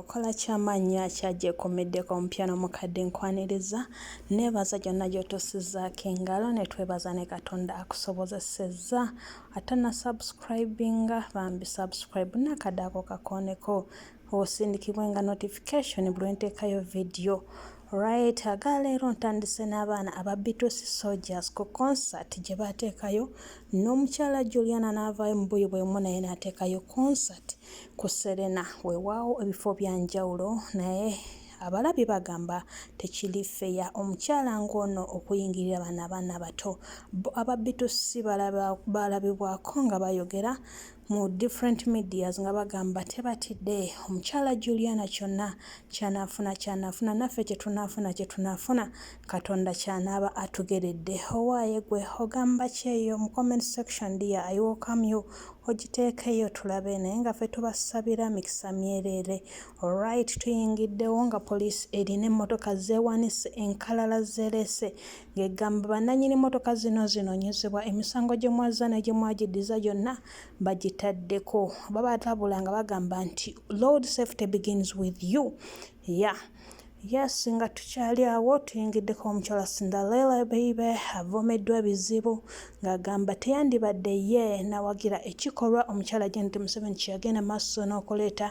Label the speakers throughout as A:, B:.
A: okola kyamaanyi nnyo akyagyekomeddeko omupya n'omukadde nkwaniriza neebaza gyonna gyotuusizzaako engalo ne twebaza ne katonda akusobozesezza ate na subscribinga bambi subscribe nakadaako kakooneko osindikibwe nga notification buli lwenteekayo vidiyo right aga leero ntandise n'abaana aba bitusi soldiers ku concert gye baateekayo n'omukyala juliana n'avaayo mu buyi bwemu naye n'ateekayo concert ku Serena weewaawo ebifo bya njawulo naye abalabi bagamba tekiri feya omukyala ng'ono okuyingirira bano abaana abato bo ababitusi balabibwako nga bayogera mu different medias nga bagamba tebatidde omukyala Juliana kyonna kyanaafuna kyanaafuna naffe kye tunaafuna kye tunaafuna Katonda kyanaaba atugeredde. Owaaye gwe ogamba ki eyo mu comment section dear I welcome you ogiteekeyo tulabe naye nga ffe tubasabira mikisa myereere. Alright tuyingiddewo nga police erina emmotoka zeewanise enkalala zereese ng'egamba bannanyini mmotoka zino zinoonyezebwa emisango gye mwazza ne gye mwagiddiza gyonna bagitaddeko. Babalabula nga bagamba nti Road safety begins with you ya yes nga tukyali awo tuyingiddeko omukyala cinderella beibe avomeddwa ebizibu ng'agamba teyandibadde ye nawagira ekikolwa omukyala janet museveni kyeyagenda maaso n'okuleeta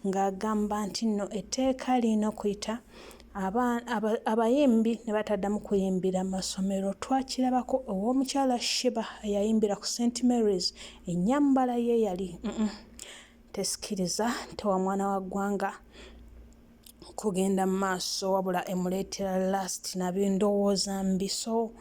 A: ng'agamba nti nno etteeka lirina okuyita abayimbi ne bataddamu kuyimbira masomero twakirabako ow'omukyala shiba eyayimbira ku st marys ennyambala ye yali mm -mm. tesikiriza nte wa mwana wa ggwanga kugenda mu maaso wabula emuleetera last nabi ndowooza mbi so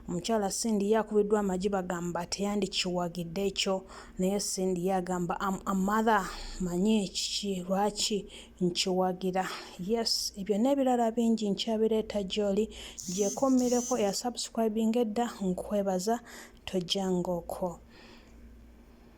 A: omukyala Cindy ye akubiddwa amagi bagamba teyandikiwagidde ekyo naye Cindy ye agamba am a mother manyi kiki lwaki nkiwagira yes ebyo n'ebirala bingi nkyabireeta gy'oli gyekommireko eya subscribing edda nkwebaza tojjanga okwo